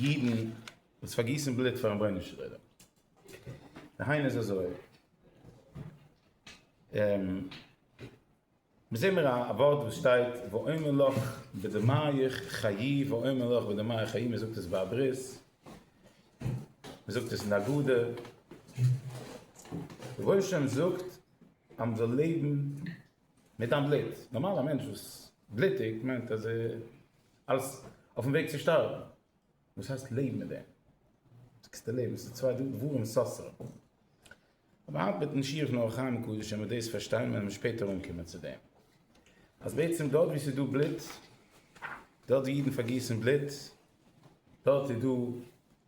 אידן וואס פארגיסן בלוט פארן רבונו של עולם. די העין איז אזוי. מיר זעהן מיר א ווארט וואס שטייט ואומר לך בדמיך חיי ואומר לך בדמיך חיי מען זאגט עס ביי א ברית. מען זאגט עס אין די הגדה. רבונו של עולם זאגט אז מען זאל לעבן מיט דיין בלוט. נארמאל א מענטש וואס בלוטיגט מיינט אז ער אלס אויפן וועג צו שטארבן. וואס הייסט לעב מיט דעם? זאגסטו לעבן איז די צוויי דברים סותר. אבער היינט מיטן שיעור פון אור החיים הקדוש ווען מיר דאס פארשטיין וועלן מיר שפעטער אנקומען צו דעם אז בעצם דארט ווי ס'איז דא בלוט, דארט ווי אידן פארגיסן בלוט, דארט איז דא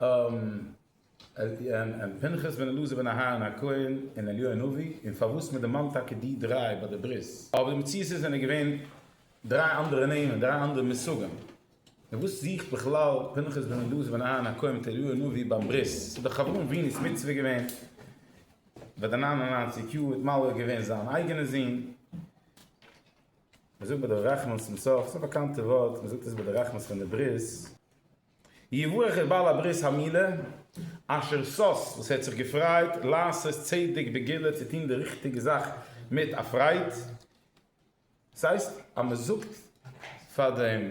און פנחס בן אלעזר בן אהרן הכהן און אליהו הנביא, און פארוואס מען דערמאנט טאקע די דריי ביי די ברית. אבער די מציאות איז זענען געווען דריי אנדערע נעמען, דריי אנדערע מושגים, און וואס זוכט בכלל פנחס בן אלעזר בן אהרן הכהן מיט אליהו הנביא ביים ברית, ס'איז דאך אברהם אבינו'ס מצוה געווען ביי די נײַן און נײַנציק יאר האט מלוה געווען זיין אייגענע זון, מ'זאגט ביי די רחמנס צום סוף, ס'איז א באקאנטע ווארט, מ'זאגט עס ביי די רחמנס פון די ברית. יברך את בעל הברית המילה אשר סאס וואס ער האט זיך געפרייט לעשות צדק בגילה צו טון די ריכטיגע זאך מיט א פרייד, דאס הייסט אז מען זאגט פאר דעם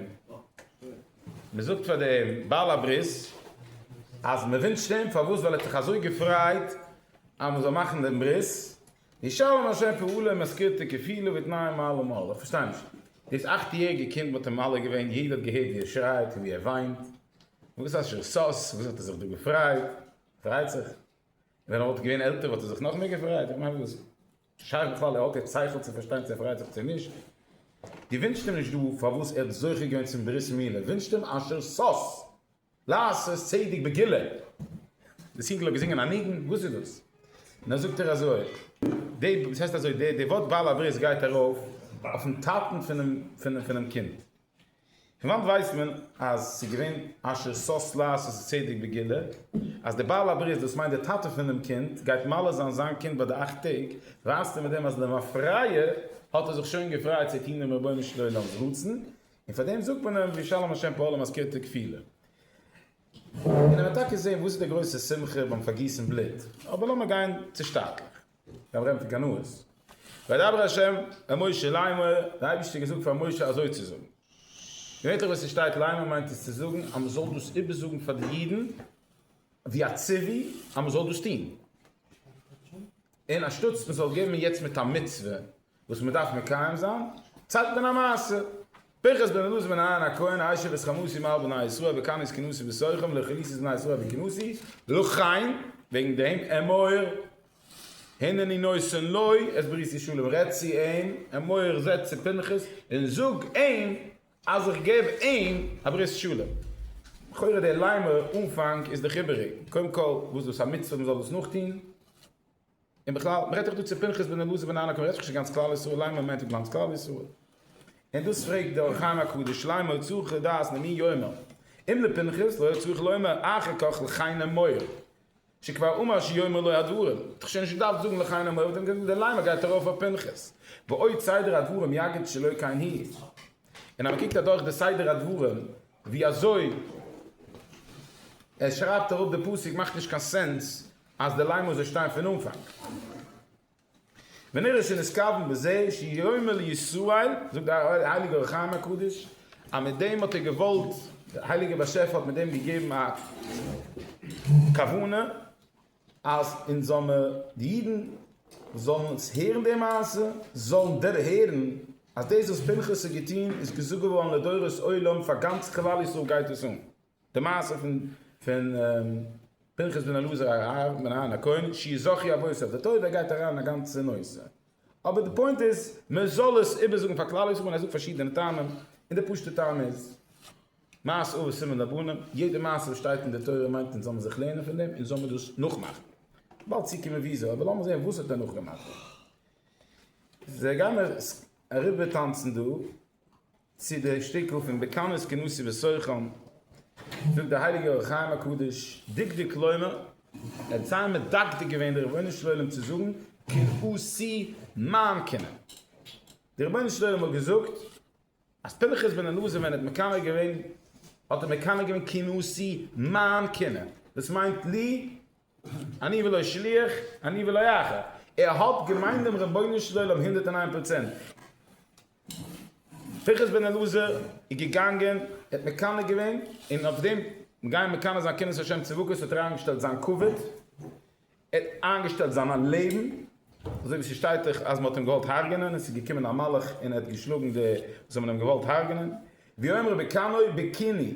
מען זאגט פאר דעם בעל הברית אז מען ווינטשט אים פארוואס ווייל ער האט זיך אזוי געפרייט אז מען זאל מאכן דעם ברית, די שאלה נאר שוין פעולה מזכירתו כפילו ותנאים מעלה מעלה, איך פארשטיי נישט, דאס אכט יעריגע קינד וואלט אים מעלה געווען, יעדער האט געהערט ווי ער שרייט און ווי ער וויינט, וואס אשר סאס, וואס האט ער זיך דא געפרייט, פרייט זיך, ווען ער וואלט געווען עלטער וואלט ער זיך נאך מער געפרייט, איך מיין וואס שייך בכלל ער האט יעצט שכל צו פארשטיין צו ער פרייט זיך צו נישט, דו ווינטשט אים נישט דא פארוואס ער האט זוכה געווען צום ברית מילה, ווינטשט אים אשר סאס. לעשות צדק בגילה, דאס אינגל האט געזינגען א ניגון, וואס איז דאס? נא זאגט ער אזוי, די, דאס הייסט אזוי, די די ווארט בעל הברית גייט ארויף אויפן טאטן פונעם פונעם קינד, פון וואנט ווייסט מען אז ס'איז געווען אשר שש לעשות צדק בגילה, אז די בעל הברית דאס מיינט די טאטע פונעם קינד גייט מלא זיין זיין קינד ביי די אכט טעג, ווייזט ער מיט דעם אז למפרע האט ער זיך שוין געפרייט צו טון דעם רבונו של עולם'ס רצון, און פאר דעם זאגט מען אים ווי שלום השם פאר אלע מזכיר'טע קבילה. און ער וועט טאקע זען וואס איז די גרויסע שמחה ביים פארגיסן בלוט. אבער לאמיר גיין צושטאטלעך. מיר רעדן פון קנאות. וידבר השם אל משה לאמור, דער אייבערשטער האט געזאגט פאר משה אזוי צו זאגן. געווענליך ווען ס'שטייט לאמור מיינט עס צו זאגן אז מ'זאל דאס איבערזאגן פאר די אידן ווי א ציווי אז מ'זאל דאס טון. און אנשטאטס מ'זאל געבן יעצט מיט א מצוה וואס מען דארף מקיים זיין, צייגט מען א מעשה, פנחס בן אלעזר בן אהרן הכהן הישב את חמורי מעל בני ישראל וקנס כנוסי בסוכם לחילוצת בני ישראל וכנוסי לכן וועגן דעם אמור הנני נושא לו את ברית ישראל און רעדט צו אים, אמור זע צו פנחס און זאג אים אז איך געב אים א ברית ישראל. לכאורה דער ליימער אנפאנג איז דאך איבעריג, קודם כל וואס דאס א מצוה מען זאל דאס נאכטוהן, און בכלל, מ'רעדט דאך דא צו פנחס בן אלעזר בן ענא כהן, רעדט זיך נישט צו גאנץ כלל ישראל, למה מ'מיינט גאנץ כלל ישראל. און דאס פרעגט דער אור החיים הקדוש, למה צריך לדעת למי יאמר, אם לפנחס, לא היה צריך לומר אחר כך לכי נא מור, שכבר אמר שיאמר לו הדברים, האט דאך שוין נישט געדארפט זאגן לכי נא מור, האט ער געזאגט די למה גייט ארויף אויף פנחס. ועוד סדר הדברים יגיד שלא כן היא. און אז מ'קוקט אדורך די סדר הדברים ווי אזוי ער שרייבט אראפ די פסוק מאכט נישט קיין סענס, אז די ליימען זאל שטיין פון אנפאנג ווען ער איז שוין נתכוון בזה שיאמר לישראל, זאגט די הייליגע אור החיים הקדוש אז מיט דעם האט ער געוואלט, די הייליגע באשעפער האט מיט דעם געגעבן א כוונה אז אונז זאל מיר, די אידן זאלן אונז הערן די מעשה, זאלן דערהערן אז דאס וואס פנחס האט געטון איז געזאגט געווארן לדורות עולם, פאר גאנץ כלל ישראל גייט עס אן. די מעשה פון פון פנחס בן אלעזר הרב בן אהרן הכהן שי' זכי אבותיו לטובה גייט אריין אין א גאנצע נושא, אבער די פוינט איז מען זאל עס איבערזאגן פאר כלל ישראל און ער זאגט פארשידענע טעמים, און די פשוטע טעם איז מעשה אבות סימן לבנים, יעדע מעשה וואס שטייט אין די תורה מיינט מען זאל מען זיך לערנען פון דעם און זאל מען דאס נאכמאכן, באלד צוקומען וויאזוי, אבער לאמיר זען וואס האט ער נאכגעמאכט? זיי גייען אריבער טאנצן דא. צו די שטיקל פון בקנאות כנשיא וסוחם, זאגט דער הייליגער אור החיים הקדוש, דקדוק לומר, ער האט זייער מדקדק געווען די רבונו של עולם צו זאגן כנשיא מיין כינור. די רבונו של עולם האט געזאגט אז פנחס בן אלעזר ווען ער האט מקנא געווען האט ער מקנא געווען כנשיא מיין כינור, דאס מיינט לי, אני ולא שליח, אני ולא אחר. ער האט געמיינט דעם רבונו של עולם הונדערט און איין פראצענט. פיכחס בן אלעזר איז געגאנגען, ער האט מקנא געווען, און אויף דעם גייען מקנא זיין קרנות השם צדקות האט ער איינגעשטעלט זיין כבוד, ער האט איינגעשטעלט זיין לעבן, אזוי ווי ס'שטייט דאך אז מ'האט אים געוואלט הרג'נען און ס'איז געקומען א מלאך און ער האט געשלאגן די וואס האבן אים געוואלט הרג'נען, ויאמר בקנאי בקיני,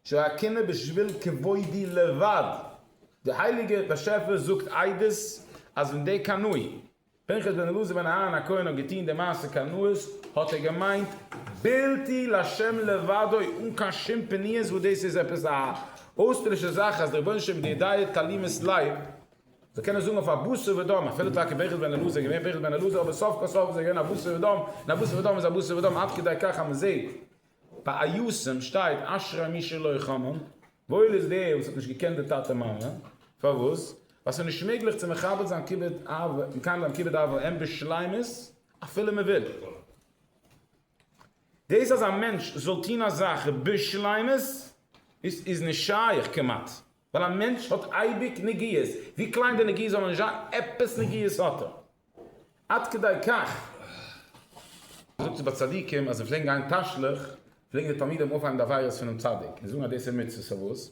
שהקינה בשביל כבודי לבד, די הייליגע באשעפער זאגט עדות אז ווען דער קנאי, פנחס בן אלעזר בן אהרן הכהן האט געטוהן די מעשה קנאות האט ער געמיינט בלתי לשם לבדו אן קיין שום פניות וואס דאס איז עפעס א אויסטערלישע זאך אז דער רבונו של עולם מיט די ידיו תעלימת לב זאל קענען זאגן אויף א בשר ודם אפילו טאקע פנחס בן אלעזר איז געווען פנחס בן אלעזר אבער סוף כל סוף איז ער געווען א בשר ודם און א בשר ודם איז א בשר ודם עד כדי כך אז מען זעהט ביי א יסעם שטייט אשרי מי שלא חמם, וואויל איז דער וואס האט נישט געקענט די טאטע מאמע, פארוואס? ווייל ס'איז נישט מעגליך צו מכבד זיין כיבוד אב מקיים זיין כיבוד אב ואם בשלימות אפילו מ'וויל. דאס אז א מענטש זאל טון א זאך בשלימות איז נישט שייך כמעט, ווייל א מענטש האט אייביג נגיעות, ווי קליין די נגיעות זאלן נישט זיין, עפעס נגיעות האט ער. עד כדי כך, מ'זאגט עס ביי צדיקים אז זיי פלעגן גיין תשליך, פלעגן די תלמידים אויפהייבן די עבירות פונעם צדיק, און זאגן אז דאס איז מצוה, פארוואס?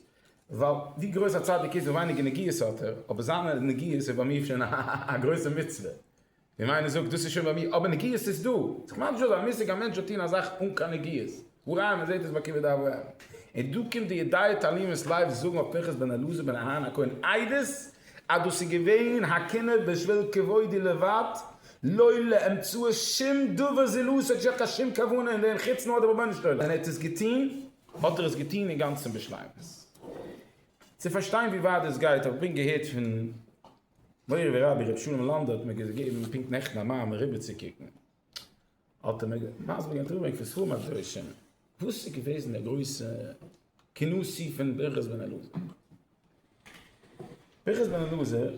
ווייל ווי גרויס א צדיק איז, ווי ווייניגער נגיעות האט ער, אבער זיינע נגיעות איז ביי מיר שוין א גרויסע מצוה, און איינער זאגט, דאס איז שוין ביי מיר, אבער נגיעות איז דא. ס'איז ממש דא אז א מושג, א מענטש זאל טון א זאך אן קיין נגיעות. הראיה, מען זעט עס ביי כיבוד אב ואם. און דא קומט די ידיעות תעלימות לייוו זאגן אויף פנחס בן אלעזר בן אהרן הכהן עדות, אז דאס איז געווען הקינה בשביל כבודי לבד, לא לאמצעו שום דבר זולו, ס'האט נישט געהאט קיין שום כוונה אין דעם חוץ נאר די רבונו של עולם. ווען ער האט עס געטון, האט ער עס געטון אינגאנצן בשלימות. צו פארשטיין ווי ווייט דאס גייט, האב איך געהערט פון מורי ורבי ר' שלום לאנדא האט מיר געגעבן פונקט נעכטן א מאמר אריבערצוקוקן, האט ער מיר מסביר געווען אינטערוויו פון ספרים הקדושים וואס איז געוועזן די גרויסע כינוסי פון פנחס בן אלעזר. פנחס בן אלעזר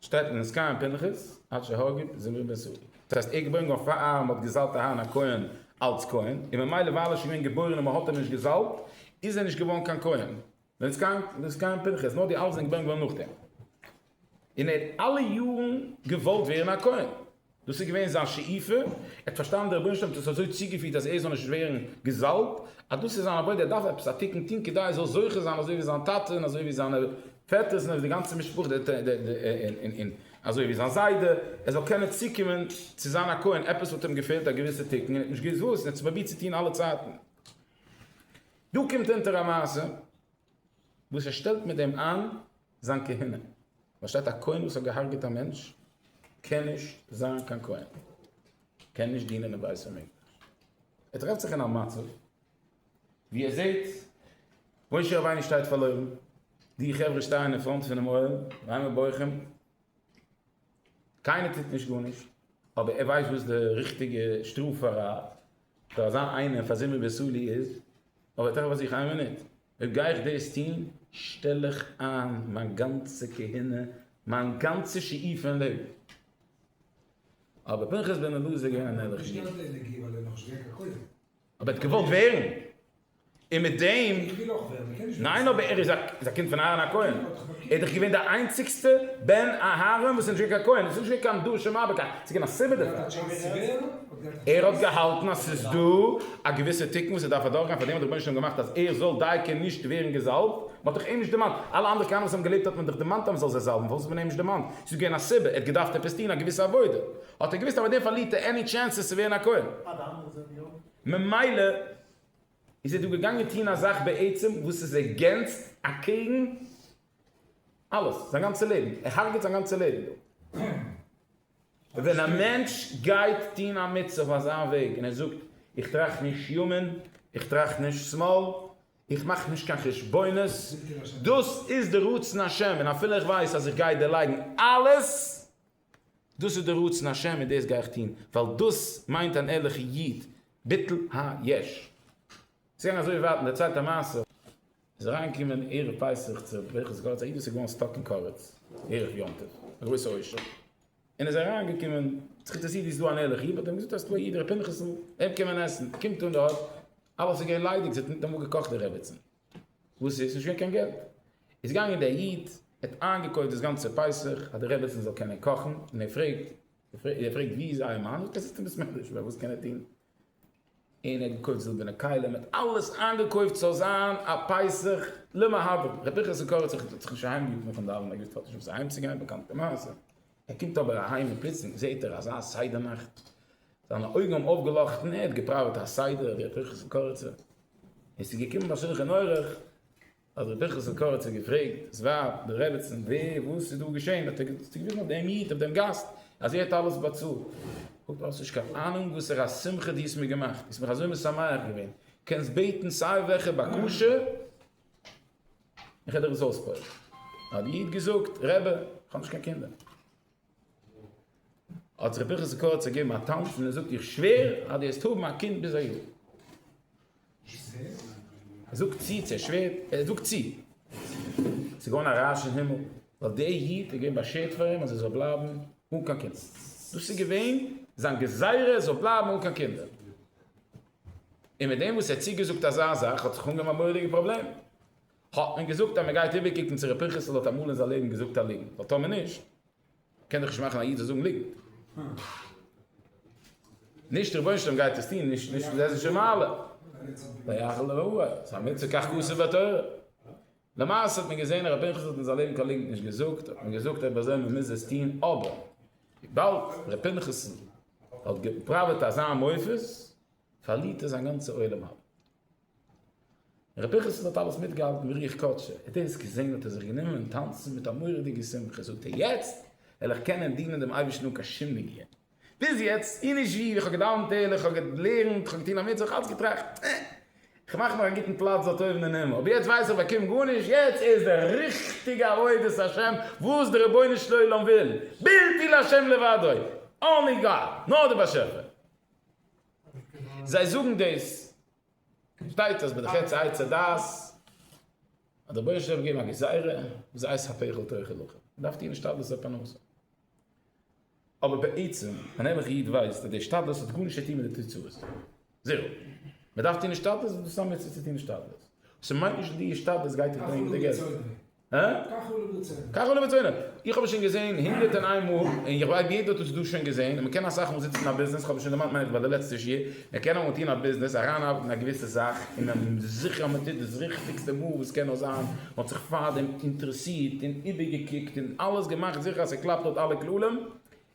שטייט אין עסקן פנחס עד שהגה ק זמיר בן סעודא, דאס הייסט ער איז געבוירן געווארן פאר אהרן האט געזאלט אהרן הכהן אלץ כהן, און ממילא ווייל ער איז שוין געווען געבוירן און מען האט אים נישט געזאלט איז ער נישט געווארן קיין כהן, ווען סקאנט ווען סקאנט פנחס נאר די אלזען געווען געווארן נאכדעם און ער האט אלע יארן געוואלט ווערן א כהן דאס איז געווען זיין שאיפה ער האט פארשטאנען די רבונו של עולם האט עס אזוי צוגעפירט אז ער זאל נישט ווערן געזאלבט אז דאס איז זיין עבודה ער דארף עפעס א תיקון טון כדי ער זאל זוכה זיין אזוי ווי זיין טאטע און אזוי ווי זיינע פעטערס און אזוי ווי די גאנצע משפחה און אזוי ווי זיין זיידע ער זאל קענען צוקומען צו זיין א כהן עפעס האט אים געפעלט א געוויסע תיקון און ער האט נישט געוואוסט וואס און ער האט עס פרובירט צו טון אלע צייטן. דא קומט אונטער א מעשה וואס ער שטעלט מיט דעם איין זיין כהונה, פארשטייט א כהן וואס האט געהארגעט א מענטש קען נישט זיין קיין כהן, קען נישט דינען אין בית המקדש, ער טרעפט זיך אין א מצב ווי ער זעט משה רבינו שטייט פארלוירן, די חברה שטייען אין פראנט פונעם אוהל, ביימער בויכען. קיינער טוט נישט גארנישט, אבער ער ווייסט וואס די ריכטיגע שטראף פאר א פאר אזא איינער פאר זימי וסולי איז, אבער תיכף אז איך איין מינוט אויב גיי איך דאס טון שטעל איך איין מיין גאנצע כהונה מיין גאנצע שאיפה אין לעבן. אבער פנחס בן אלעזר איז געווען אן ערליכע איד. אבער ער האט געוואלט ווערן און מיט דעם. ניין אבער ער איז א קינד פון אהרן הכהן ער איז דאך געווען די איינציגסטע בן אהרן וואס איז נישט געווען קיין כהן עס איז נישט געווען קיין דור שמעביר קיין עס איז געווען א סיבה דערפאר ער האט געהאלטן אז עס איז דא א געוויסע תיקון וואס ער דארף אדורכגיין פאר דעם האט דער רבונו של עולם געמאכט אז ער זאל דייקא נישט ווערן געזאלבט מען האט דאך אים נישט דערמאנט אלע אנדערע כהנים וואס האבן געלעבט האט מען דאך דערמאנט אז מען זאל זיי זאלבן פארוואס האט מען אים נישט דערמאנט עס איז געווען א סיבה ער האט געדארפט עפעס טון א געוויסע עבודה האט ער געוויסט אז מיט דעם פארלירט ער עני טשענסעס צו ווערן א כהן. ממילא איז ער דא געגאנגען טון א זאך בעצם וואס איז עגענסט אקעגן אלעס, זיין גאנצע לעבן, ער הרג'עט זיין גאנצע לעבן דא. ווען א מענטש גייט טון א מצוה אויף אזא וועג און ער זאגט, איך טראכט נישט ימין, איך טראכט נישט שמאל, איך מאך נישט קיין חשבונות, דאס איז די רצון השם, און אפילו איך ווייס אז איך גיי דערלייגן אלעס, דאס איז דער רצון השם און דאס גיי איך טון, ווייל דאס מיינט אן ערליכע איד, ביטול היש. ס'איז געגאנגען אזוי ווייט, מ'דערציילט א מעשה, איז אריינגעקומען ערב פסח צו ר' פנחס גאלד'ס א איד וואס איז געווארן סטאק אין קארעטץ ערב יום טוב, א גרויסע עושר, און איז אריינגעקומען, האט זיך אינטערעסירט ווי ס'איז דא אן ערליכע איד, האט אים געזאגט אז ס'איז דא א איד ר' פנחס'ל, אים קען מען עסן, קומט אן דארט, אלעס איז געווען ליידיג, ס'האט ניטאמאל געקאכט די רעבעצן. וואס איז? ס'נישט געווען קיין געלט. איז געגאנגען דער איד, ער האט איינגעקויפט דאס גאנצע פסח, אז די רעבעצן זאל קענען קאכן, און ער פרעגט, ער פרעגט ווי איז אייער מאן? זאגט ער, עס איז אים ביסמעטער נישט דא, וואס קען ער טון? און ער האט געקויפט זילבערנע כלים, ער האט אלעס איינגעקויפט ס'זאל זיין א פסח למהדרין. ר' פנחס קאריץ האט זיך נישט אהיימגערופן פון דאווענען, ער האט געוואוסט נישט וואס אהיימצוגיין, באקאנטע מעשה. ער קומט אבער אהיים און פלוצלינג זעהט ער אזא סדר נאכט. זיינע אויגן האבן אויפגעלאכטן, ער האט געפראוועט א סדר ווי ר' פנחס'ן קאריצער און עס איז געקומען ביי שולחן ערוך אז ר' פנחס'ן קאריצער האט געפרעגט דאס ווייב, די רעבעצן, ווער, וואס איז דא געשען, האט ער געוויזן אויף דעם איד, אויף דעם גאסט, אז ער האט אלעס באצאלט. זאגט ער, האסט נישט קיין אהנונג וואסערע שמחה דו האסט מיר געמאכט, דו האסט מיך אזוי משמח געווען, קענסט בעטן סיי וועלכע בקשה, איך וועל דיר עס אויספועל'ן. האט דער איד געזאגט, רבי, איך האב נישט קיין קינדער. האט זיך פנחס קורץ געגעבן א טאנץ און ער זאגט איך שווער אז דו וועסט האבן א קינד ביז א יאר. ער זאגט צו צו ער שווערט ער זאגט צו. ס'איז געווארן א רעש אין הימל ווייל דער איד האט געווען באשערט פאר אים אז ער זאל בלייבן אן קיין קינד. דאס איז געווען זיין גזירה ער זאל בלייבן אן קיין קינדער. און מיט דעם וואס ער האט צוגעזאגט אזא זאך האט זיך אנגעהויבן א מורא'דיגע פראבלעם. האט מען געזאגט אז מען גייט איבערקוקן צו ר' פנחס'ל האט אמאל אין זיין לעבן געזאגט א ליגנט, ווייל טאמער נישט קען דאך נישט מאכן א איד זאל זאגן ליגנט. נישט רבונו של עולם גייט עס טון, נישט נישט איז עס נישט אין מעלה. ויחל ל ע, עס איז א מצוה כך כתוב בתורה. למעשה האט מען געזען ר' פנחס'ל האט אין זיין לעבן קיין ליגנט נישט געזאגט, האט מען געזאגט אויב אזוי מען מוז עס טון, אבער וויבאלד ר' פנחס'ל האט געפראוועט אזא מופת, פארלירט ער זיין גאנצע עולם הבא. ר' פיכעס'ל האט אלעס מיטגעהאלטן ווי רוח קודשו, ער האט עס געזען האט ער זיך גענומען טאנצן מיט א מורא'דיגע שמחה, זאגט ער יעצט וועל איך קענען דינען דעם אייבערשטן אן קיין שום נגיעה, ביז יעצט און נישט ווי איך האב געדאוונט ערליך, איך האב געלערנט, איך האב געטון א מצוה, איך האב אלץ געטראכט אה, איך מאך מיר א גוטן פלאץ דארט אויבן אין הימל, אבער יעצט ווייס איך באקום גארנישט, יעצט איז די ריכטיגע עבודת השם וואס דער רבונו של עולם וויל, בלתי לה' לבדו, אנלי גאד, נאר דער באשעפער. זיי זאגן דאס, שטייט אז ביי די חטא עץ הדעת האט דער בויען שלום געגעבן א גזירה וואס הייסט התאכל תאכל לחם, מען דארף טון השתדלות אויף פרנסה. אבער בעצם אן ערליכע איד ווייסט אז די השתדלות האט גארנישט צו טון מיט די תוצאות, זירא. מען דארף טון השתדלות וואס דאס האט מיט צו טון השתדלות. ס'מיינט נישט אז די השתדלות גייט דיך ברענגען די געלט. כך הוא לבצענו. כך הוא לבצענו. איך האב עס שוין געזעהן הונדערט און איין מאל, און איך ווייס יעדער האט עס דא שוין געזעהן, און מען קען אסאך מאל זיצן אין א ביזנעס, כ'האב עס שוין דערמאנט מיין איך ביי די לעצטע שיעור, מען קען אמאל טון א ביזנעס, אריינארבעטן אין א געוויסע זאך, און מען איז זיכער אז מען טוט דאס ריכטיגסטע מאל וואס קען נאר זיין, מען האט זיך פארדעם אינטערעסירט און איבערגעקוקט און אלעס געמאכט זיכער אז ס'קלאפט לויט אלע כללים,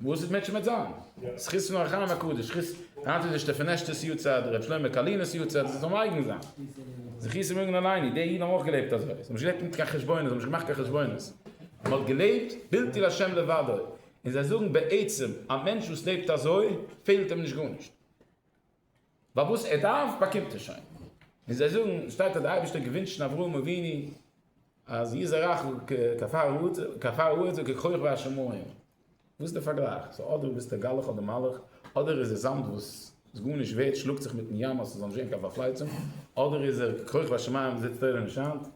וואס איז מיט שמץ זיין זכות פון אור החיים הקדוש זכות היינט איז נישטא פון עשת'ס יארצייט ר' שלמה קאלינער'ס יארצייט זיי זאלן אייגן זיין זכות צו מעגן אליין די אידן האבן אויך געלעבט אזוי זיי האבן נישט געלעבט מיט קיין חשבונות זיי האבן נישט געמאכט קיין חשבונות מען האט געלעבט בלתי להשם לבדו און זיי זאגן בעצם א מענטש וואס לעבט אזוי פעלט אים נישט גארנישט. ווייל וואס ער דארף באקומט ער שוין, ווי זיי זאגן שטייט אז דער אייבערשטער האט געווינטשן אברהם אבינו אז יזרעך כעפר הארץ וככוכב השמים, וואס איז די פארגלייך? סאו אדער ביסטו גלח אדער מלאך, אדער איז ער זאמד וואס איז גארנישט ווערט שלאגט זיך מיטן ים אז ס'זאל נישט ווערן קיין פארפלייצונג, אדער איז ער ככוכב השמים זיצט אויבן און שיינט.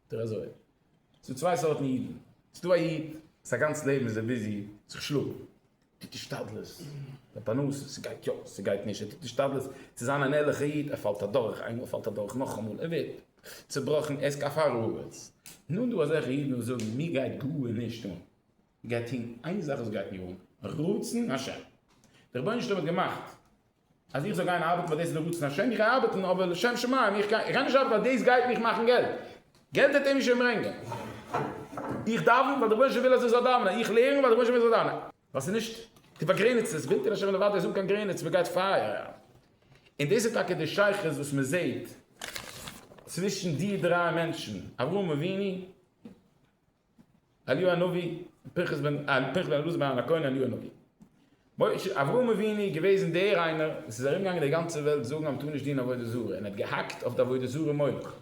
טו אזוי. ס'דא צוויי סארטן אידן. ס'דא א איד, זיין גאנץ לעבן איז ער ביזי זיך שלאגן. ער טוט השתדלות פאר פרנסה, ס'גייט יא, ס'גייט נישט. ער טוט השתדלות צו זיין אן ערליכער איד. ער פאלט אדורך איינמאל, ער פאלט אדורך נאכאמאל, ער ווערט צעבראכן, ער איז כעפר הארץ. נאכדעם דא אזעלכע אידן וואס זאגן, מיר גייט גארנישט אן. מ'גייט טון איין זאך וואס גייט מיר אן, רצון השם. דער רבונו של עולם האט געמאכט אז איך זאל גיין ארבעטן ווייל דאס איז די רצון השם, איך גיי ארבעטן אבער לשם שמים, איך גיי נישט ארבעטן ווייל דאס גייט מיך מאכן געלט, געלט וועט ער מיר שוין ברענגען, איך דאווען ווייל דער רבונו של עולם וויל אז איך זאל דאווענען, איך לערן ווייל דער רבונו של עולם וויל איך זאל לערנען. ווייל ס'איז נישט די באגרעניצטע, ס'וויל דער השם און די ווארט איז אן קיין גרעניץ, מען גייט פייער אריין. און דאס איז טאקע די שייכות וואס מען זעט צווישן די דריי מענטשן, אברהם אבינו, אליהו הנביא, פנחס בן אלעזר בן אהרן הכהן, אליהו הנביא. משה, אברהם אבינו געוועזן דער איינער וואס איז ארום געגאנגען די גאנצע וועלט זאגן אז מ'טאר נישט דינען עבודה זרה און האט געהאקט אויף די עבודה זרה מולך.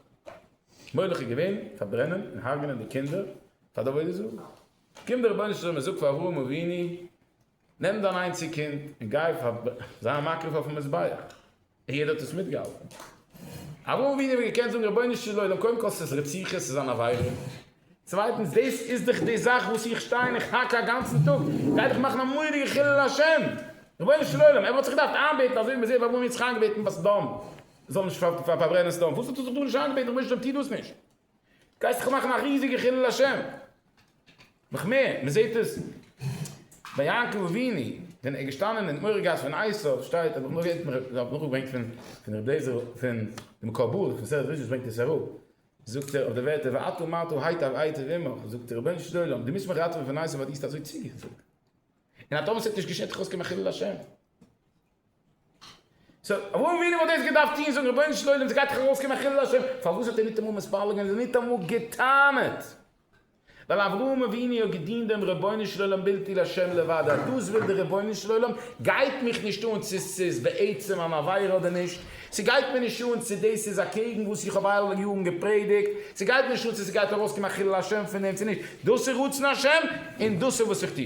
מולך איז געווען פארברענען און הרג'נען די קינדער פאר די עבודה זרה. קומט דער רבונו של עולם און זאגט פאר אברהם אבינו. נעם דיין איינציג קינד און גיי פאר זיי א מקריב אויפן מזבח, און יעדער האט עס מיטגעהאלטן. אברהם אבינו וואלט געקענט זאגן, רבונו של עולם, קודם כל ס'איז רציחה, ס'איז אן עבירה, צווייטנס דאס איז דאך די זאך וואס איך שטיי און איך האק א גאנצן טאג, גיי דיך מאכן א מורא'דיגע חילול השם, רבונו של עולם, ער וואלט זיך געדארפט איינבעטן אזוי ווי מ'זעט ביי אברהם יצחק, געבעטן ביי סדום זאל נישט פארברענען סדום, פארוואס האט ער זיך דא נישט איינגעבעטן, רבונו של עולם טו דאס נישט. גייסט דאך מאכן א ריזיגע חילול השם. נאך מער, מען זעט עס ביי יעקב אבינו ווען ער איז געשטאנען אין מורי' גאס ווען עשו שטייט האב איך נאכגעברענגט פון פון רבי עזר פון די מקור באר פון מסכת בראשית ברענגט עס אראפ זאגט ער אויף די ווערטער ואתו אמרתו היטב היטב עמך זאגט ער רבונו של עולם דו מוזט מיך ראטעווען פון עשו ווייל דו האסט אזוי צוגעזאגט און אטאמאל ס'וועט נישט געשען טאר איך אויסקומען א חילול השם. סאו אברהם אבינו וואלט דאס געדארפט טון, זאגן רבונו של עולם ס'גייט דאך ארויסקומען א חילול השם, פארוואס האט ער ניטאמאל מתפלל געווען, ניטאמאל גע'טענה'ט? ווייל אברהם אבינו האט געדינט דעם רבונו של עולם בלתי לשם לבד, אז דאס וויל דער רבונו של עולם, גייט מיך נישט אן צו ס'איז בעצם אן עבירה אדער נישט, ס'גייט מיר נישט אן צו דאס איז אקעגן וואס איך האב אלע יארן געפרעדיגט, ס'גייט מיר נישט אן צו ס'גייט ארויסקומען א חילול השם פון דעם צו נישט, דאס איז רצון השם און דאס איז וואס איך טו.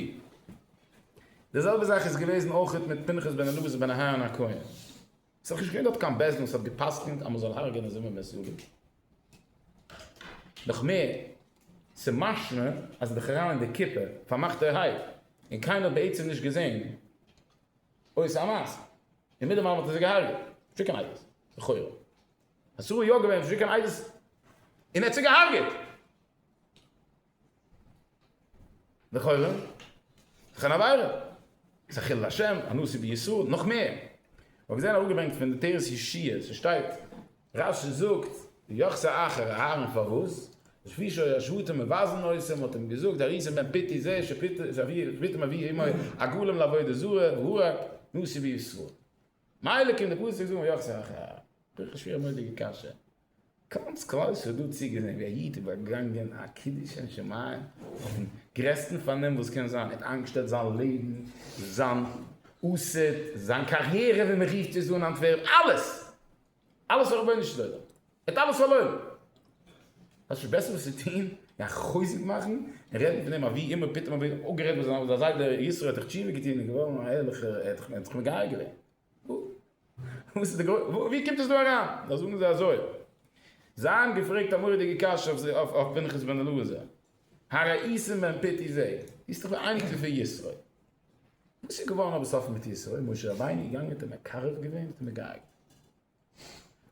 די זעלבע זאך איז געוועזן אויכעט מיט פנחס בן אלעזר בן אהרן הכהן. עס איז דאך נישט געווען דארט קיין בעסד וואס האט גע'פסק'נט אז מען זאל הרג'ענען זומער בית יואל. נאך מער, עס איז משמע אז עס איז דאך אריין אין די קופה פארמאכטערהייט און קיינער האט בעצם נישט געזען אויסער א מייז און מיט דעם אלעם האט ער זיי געהרג'עט. נישט ווי קיין עדות לכאורה. אסור איז יא געווען נישט ווי קיין עדות און ער האט זיי געהרג'עט. לכאורה, חנה ביירא, ס'איז א חילול השם, א נושא בישראל, נאך מער. כ'האב געזען אראפגעברענגט פון די תורת ישעי', ס'שטייט, רש י זאגט, ויחס האחר אהרן פארוואס? לפי שהשבטים מבזים אותו, מ'האט אים געזאגט, הריסען בן פתי זה, שפתם אבי אמו, הגולם לעבודה זרה, והוא ה, נושא בישראל. מילא קומט די פסוק זאגן ויחס האחר אהרן. דאך א שווערמוידיגע קשיא. גאנץ כלל ישראל האט דא צוגעזען ווי א איד איז באגאנגען א קידוש שם שמים אויפן גרעסטן פארנעם וואס קען זיין, ער האט איינגעשטעלט זיין לעבן, זיין עתיד, זיין קאריערע ווי מען רופט עס דא אין אנטווערפ, אלעס! אלעס פאר רבונו של עולם! ער האט אלעס פארלוירן! האסט נישט בעסערס צו טון ווי א חוזק מאכן און רעדן פון אים אז ווי אימער פתאום האט ער אפגערעדט מיט זיין זיידע, ישרא' האט דאך תשובה געטון און געווארן א ערליכער, ער האט דאך מגיה געווען. ווי קומט עס דא אריין? דאך זאגן זיי אזוי. זיי האבן געפרעגט א מורא'דיגע קשיא אויף פנחס בן אלעזר, הראיסים בן פתי זי ע, דו ביסט דאך דער אייניקל פון ישרוי, וואס איז געווארן אבער סוף מיט ישרוי? משה רבינו איז געגאנגען האט ער מקרב געווען? האט ער אים געהארגעט?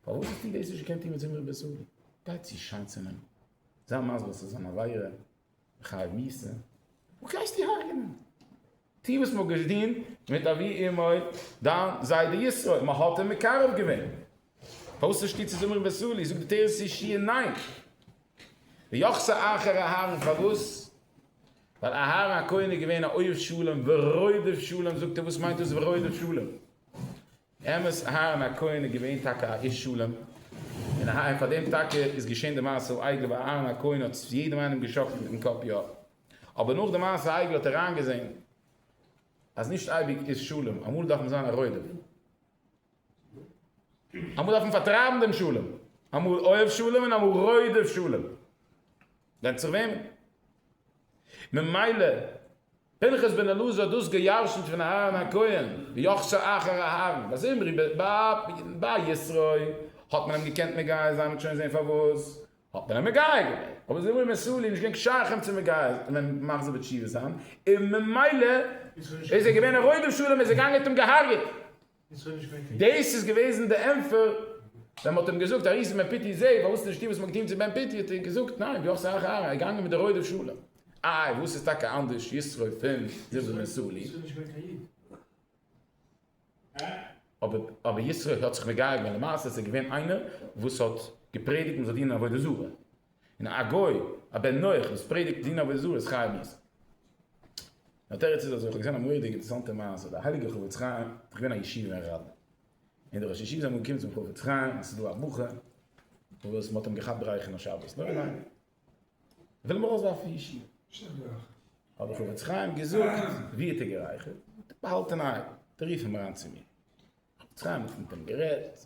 פארוואס האט איר דאס נישט געקענט טון מיט זמרי בית אלי? גייט צו שייטצענעם, זיי מסביר ס'איז אן עבירה, חי מיסה, וואס גייסטו איר הרג'נען? טו וואס מ'האט געשדין מיט אבי אמו דיין זיידע ישראל, מ'האט אים מקרב געווען. פאר'וואס נישט טו צו זמרים בסולי? זאגט די תורת אישי ניין. ויחסה אחר אהרן פארוואס? ווייל אהרן הכהן איז געווען א אוהב שלום ורודף שלום, זאגט ער וואס מיינט דאס ורודף שלום? אמת אהרן הכהן איז געווען טאקע א איש שלום, און אהה און פאר דעם טאקע איז געשען די מעשה העגל וואו אהרן הכהן האט יעדעם איינעם געשאקלט מיטן קאפ יא, אבער נאך די מעשה העגל האט ער איינגעזען אז נישט אייביג איז שלום, אמאל דארף מען זיין א רודף, אמאל דארף מען פארטרייבן דעם שלום, אמאל אוהב שלום און אמאל רודף שלום, ווענדט זיך וועמען, ממילא פנחס בן אלעזר האט דאס געירשנט פון אהרן הכהן, ויחסר אחר אהרן, ביי זמרי ביי ישרוי האט מען אים געקענט מגייר זיין, מ'האט שוין זעהן פארוואס האט מען אים מגייר געווען, אבער זמרי בן סלי איז נישט געווען שייך אים צו מגייר ווען מחזיר בתשובה זיין, און ממילא איז ער געווען א רודף שלום, איז ער געגאנגען האט אים געהארגעט. דאס איז געוועזן די ענפער ווען מ'האט אים געזאגט ארי ס'בן פיטי זי ע פארוואס האסטו נישט געטוהן וואס מ'האט געטוהן צו בן פיטי האט ער געזאגט ניין דו האסט א הערה ער געגאנגען מיט די רוידע שלום איי וואס איז טאקע אנדערש יששכר פון זיבע בן סאלי אבער יששכר האט זיך מגייר געווען למעשה ס'איז געווען איינער וואס האט געפרעדיגט מ'זאל דינען עבודה זרה. און א גוי א בן נח וואס פרעדיגט דינא וזוה איז חייב מיתה. די תירוץ איז אזוי, כ'האב געזען א מורא'דיגע אינטערעסאנטע מעשה, דער הייליגער חפץ חיים איז געווען א ישיבה אין ראדני, און די ראש ישיבה זענען געקומען צום חפץ חיים אז ס'איז דא א בחור וואס מ'האט אים געכאפט גרייכן א שבת נאכט, מ'וויל אים ארויסווארפן פון ישיבה, האט דער חפץ חיים געזאגט, ווי האט ער גערייכערט? באהאלטענהייט, רוף אים אריין צו מיר. חפץ חיים האט מיט אים גערעדט.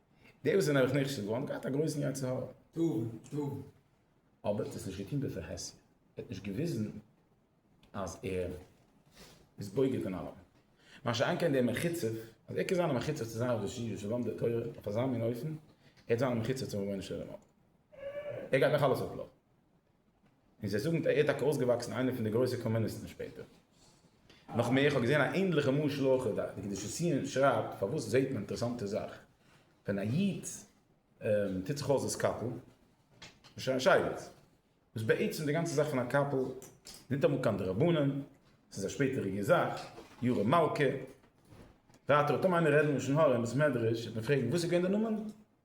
די וואס זענען אויך נחשד געווארן געהאט א גרויסן יצר הרע. אבער ער האט עס נישט געטון בפרהסיא, ער האט נישט געוויזן אז ער איז בוגד אין אלעמען. מה שאין כן דער מחוצף, אז ער קען זיין א מחוצף צו זיין רבי ז'י ז'לומד די תורה אויף אזא מין אופן, ער וועט זיין א מחוצף צום רבונו של עולם אויך. ער גייט נאך אלעס אויף בלאפן. און זיי זאגן ער איז טאקע אויסגעוואקסן איינער פון די גרויסע קאמוניסטן שפעטער. נאך מער, איך האב געזען א ענדליכע משל אויך, די קדושת ציון שרייבט, פארוואס זעט מען א אינטערעסאנטע זאך, ווען א איד טוט זיך אויס דאס קאפל, נישט קיין שייגעץ, וואס בעצם די גאנצע זאך פון א קאפל איז ניטאמאל קיין דרבנן, ס'איז א שפעטעריגע זאך, ירא מלכא, ווייטער האט טאמער איינער רעדן לשון הרע אין בית מדרש וועט מען פרעגן וואס איז געווען די נאמען?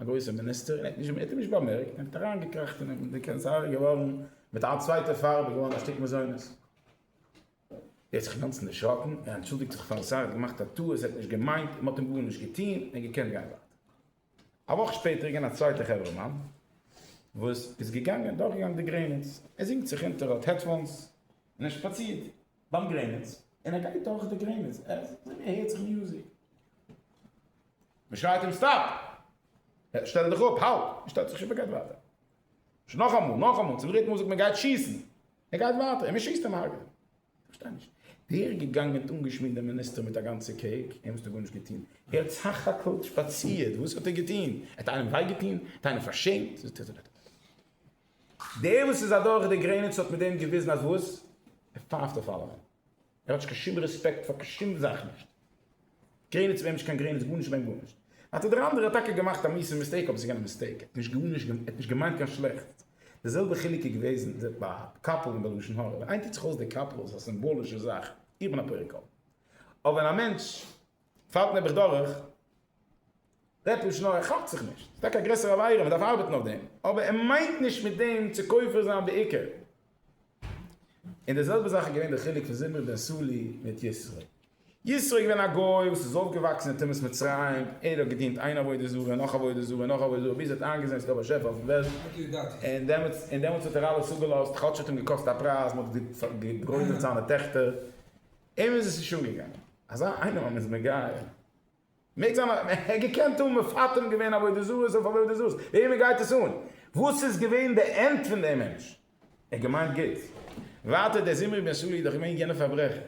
א גרויסער מיניסטער און ער האט נישט געמערקט, ער האט נישט באמערקט און ער האט אריינגעקראכט אין אים, די קענסער איז געווארן מיט א צווייטע פארב, איז געווארן א שטיק מזונות. ער האט זיך אינגאנצן דערשראקן, ער אנטשולדיגט זיך פארן שר, ער האט געמאכט א טעות, ער האט נישט געמיינט, מען האט אים גארנישט געטון, ער האט געקענט גיין ווייטער. א וואך שפעטער איז געווען א צווייטער חברה מאן וואס איז געגאנגען, דורכגעגאנגען די גרעניץ, ער זינגט זיך אונטער, ער האט העדפאונס און ער שפאצירט ביים גרעניץ און ער גייט דורך די גרעניץ, ער זינגט זיך און ער הערט זיך מיוזיק. מען שרייט אים סטאפ! שטעל דיך אפ! האלט! ער שטעלט זיך שוין אפ און גייט ווייטער. שוין נאכאמאל, נאכאמאל, צום דריטן מאל זאגט מען גייט שיסן! ער גייט ווייטער און מען שיסט אים הרג'ענען. איך פארשטיי נישט. דער איז געגאנגען און אנגעשמירט דעם מיניסטער מיט א גאנצע קעיק, אים האסטו גארנישט געטון. ער האט סך הכל שפאצירט, וואס האט ער געטון? ער האט איינעם וויי געטון? ער האט איינעם פארשעמט? דער וואס איז אדורך די גרעניץ האט מיט דעם געוויזן אז וואס? ער פייפט אויף אלעמען. ער האט נישט קיין שום רעספעקט פאר קיין שום זאך נישט גרעניץ ווען נישט קיין גרעניץ גארנישט ווען גארנישט אטע דער אנדערע האט טאקע געמאכט א מיסע מיסטעיק אבער ס'איז געווען א מיסטעיק ער האט נישט גארנישט געמאכט ער האט נישט געמיינט קיין שלעכטס די זעלבע חילוק איז געוועזן די ביי קאפל און ביי לשון הרע ווען איינער טוט זיך אויס די קאפל איז עס א סימבאלישע זאך איך בין א פרא קאפל אבער ווען א מענטש פאלט נעבעך דורך, רעדט לשון הרע, כאפט זיך נישט, ס'איז טאקע א גרעסערע עבירה, מען דארף ארבעטן אויף דעם, אבער ער מיינט נישט מיט דעם צו כופר זיין בעיקר. און די זעלבע זאך איז געווען די חילוק פון זמרי בן סלי מיט ישרי. ישרי איז געווען א גוי וואס איז אויפגעוואקסן אין טומאת מצרים, ער האט געדינט איין עבודה זרה, נאך עבודה זרה, נאך עבודה זרה, ביז ער האט איינגעזען ס'איז דא א באשעפער אויפן וועלט, און דעמאלטס און דעמאלטס האט ער אלעס אפגעלאזט, כאטש ס'האט אים געקאסט א פרייז, מען האט געגרוילט זיינע טעכטער. אים איז עס נישט אנגעגאנגען. אזא איינעם אז מען איז מגייר. מעג זיין אז מען העט געקענט האבן מפטרים געווען עבודה זרות אויף עבודה זרות. וועמען גייט עס אן וואס איז געווען די ענד פון דעם מענטש? ער האט געמיינט גוט. ווייטער דער זמרי בן סלוא איז דאך געווען יענער פארברעכער.